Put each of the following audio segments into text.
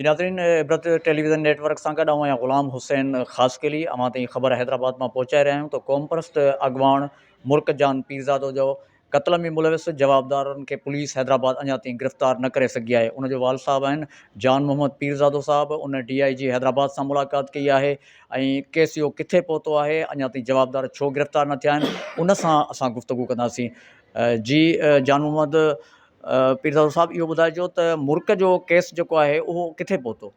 ناظرين Ibrat television network سان گڏ آئون آهيان غلام حسين خاصخيلي اوهان تائين خبر حيدرآباد مان پهچائي رهيا آهيون ته قومپرست اڳواڻ مرڪ جان پيرزادو جو قتل ۾ ملوث جوابدارن کي پوليس حيدرآباد اڃا تائين گرفتار نه ڪري سگهي آهي ان جو والد صاحب آهن جان محمد پيرزادو صاحب ان ڊي آء جي حيدرآباد سان ملاقات ڪئي آهي ۽ ڪيس اهو ڪٿي پهتو آهي اڃا تائين جوابدار ڇو گرفتار نه ٿيا آهن ان سان اسان گفتگو ڪنداسين جي جان محمد پيرزادو صاحب اهو ٻڌائجو ته مرڪ جو ڪيس جيڪو آهي اهو ڪٿي پهتو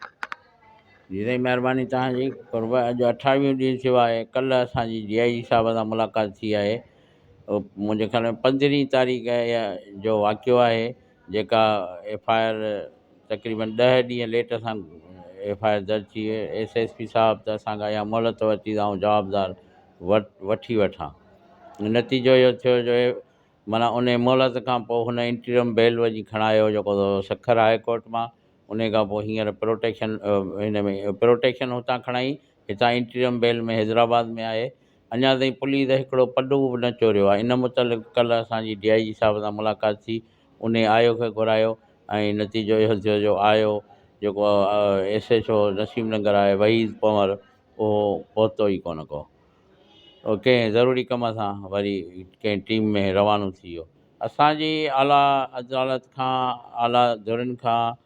جي سائين مهرباني توهان جي قرب اڄ اٺاويهون ڏينهن ٿيو آهي ڪلهه اسان جي ڊي آء جي صاحب سان ملاقات ٿي آهي منهنجي خيال ۾ پندرهين تاريخ يا جو واقعو آهي جيڪا ايف آء آر تقريبن ڏهه ڏينهن ليٽ سان ايف آء آر درج ٿي وئي ايس ايس پي صاحب ته اسانکا اها مهلت ورتي آئون جوابدار ور وٺي وٺان نتيجو اهو ٿيو جو معنيٰ ان مهلت کان پوء هن انٽريم بيل وڃي کڻايو جيڪو سکر هاء ڪورٽ مان ان کان پوء هينئر پروٽيڪشن ان ۾ پروٽيڪشن هتان کڻائي هتان انٽريم بيل ۾ حيدرآباد ۾ آهي اڃا تائين پوليس هڪڙو پڊو به نه چوريو آهي ان متعلق ڪلهه اسان جي ڊي آء جي صاحب سان ملاقات ٿي انهي آء او کي گهرايو ۽ نتيجو اهو ٿيو جو آء او جيڪو S H O Naseem Nagar آهي وحيد پنور اهو پهتو ئي ڪونه ڪو او ڪنهن ضروري ڪم سان وري ڪنهن ٽيم ۾ روانو ٿي ويو اسان جي اعليٰ عدالت کان اعليٰ ڌرين کان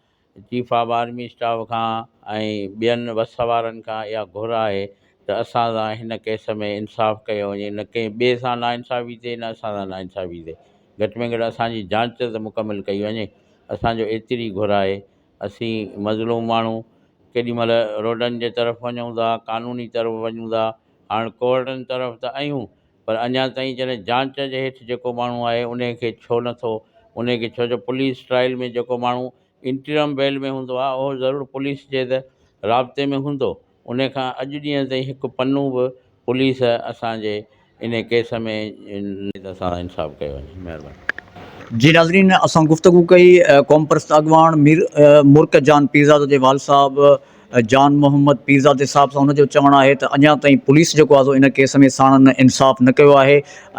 چيف آف آرمي اسٽاف کان ۽ ٻين وس وارن کان اها گهر آهي ته اسان سان هن ڪيس ۾ انصاف ڪيو وڃي نه ڪنهن ٻئي سان ناانصافي ٿئي نه اسان سان ناانصافي ٿئي گهٽ ۾ گهٽ اسان جي جانچ ته مڪمل ڪئي وڃي اسان جو ايتري گهر آهي اسين مظلوم ماڻهو ڪيڏي مهل روڊن جي طرف وڃون ٿا قانوني طرف وڃون ٿا هاڻ ڪورٽن طرف ته ايون پر اڃا تائين جڏهن جانچ جي هيٺ جيڪو ماڻهو آهي انهي کي ڇو نه ٿو انهي کي ڇو جو پوليس ٽرائل ۾ جيڪو ماڻهو انٽرم بيل ۾ هوندو آهي اهو ضرور پوليس جي ته رابطي ۾ هوندو انهي کان اڄ ڏينهن تائين هڪ پنو به پوليس اسان جي انهي ڪيس ۾ نه سان انصاف ڪيو وڃي مهرباني. جي ناظرين اسان گفتگو ڪئي قومپرست اڳواڻ مير مورڪ جان پيرزاده جي والد صاحب جان محمد پيرزادي صاحب سان هن جو چوڻ آهي ته اڃا تائين پوليس جيڪو آهي سو ان ڪيس ۾ ساڻن انصاف نه ڪيو آهي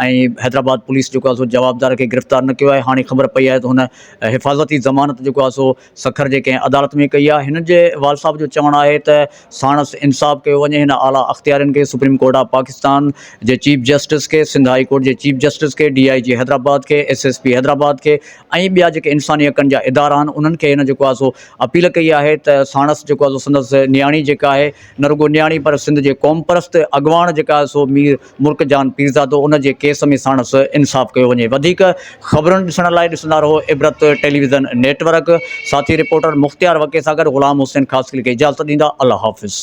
۽ حيدرآباد پوليس جيڪو آهي سو جوابدار کي گرفتار نه ڪيو آهي هاڻي خبر پئي آهي ته هن حفاظتي ضمانت جيڪو آهي سو سکر جي ڪنهن عدالت ۾ ڪئي آهي هن جي والد صاحب جو چوڻ آهي ته ساڻس انصاف ڪيو وڃي هن اعليٰ اختيارين کي سپريم ڪورٽ آف پاڪستان جي چيف جسٽس کي سنڌ هائي ڪورٽ جي چيف جسٽس کي ڊي آئي جي حيدرآباد کي ايس ايس پي حيدرآباد کي ۽ ٻيا جيڪي انساني حقن جا ادارا آهن انهن کي هن جيڪو آهي سو اپيل ڪئي آهي ته ساڻس جيڪو آهي سو سندس نياڻي جيڪا آهي نه رڳو نياڻي پر سنڌ جي قومپرست اڳواڻ جيڪا آهي سو مير مرڪ جان پيرزادو ان جي ڪيس ۾ ساڻس انصاف ڪيو وڃي وڌيڪ خبرن ڏسڻ لاء ڏسندا رهو عبرت ٽيليويزن نيٽ ورڪ ساٿي رپورٽر مختيار وڪي سان گڏ غلام حسين خاصخيلي کي اجازت ڏيندا الله حافظ.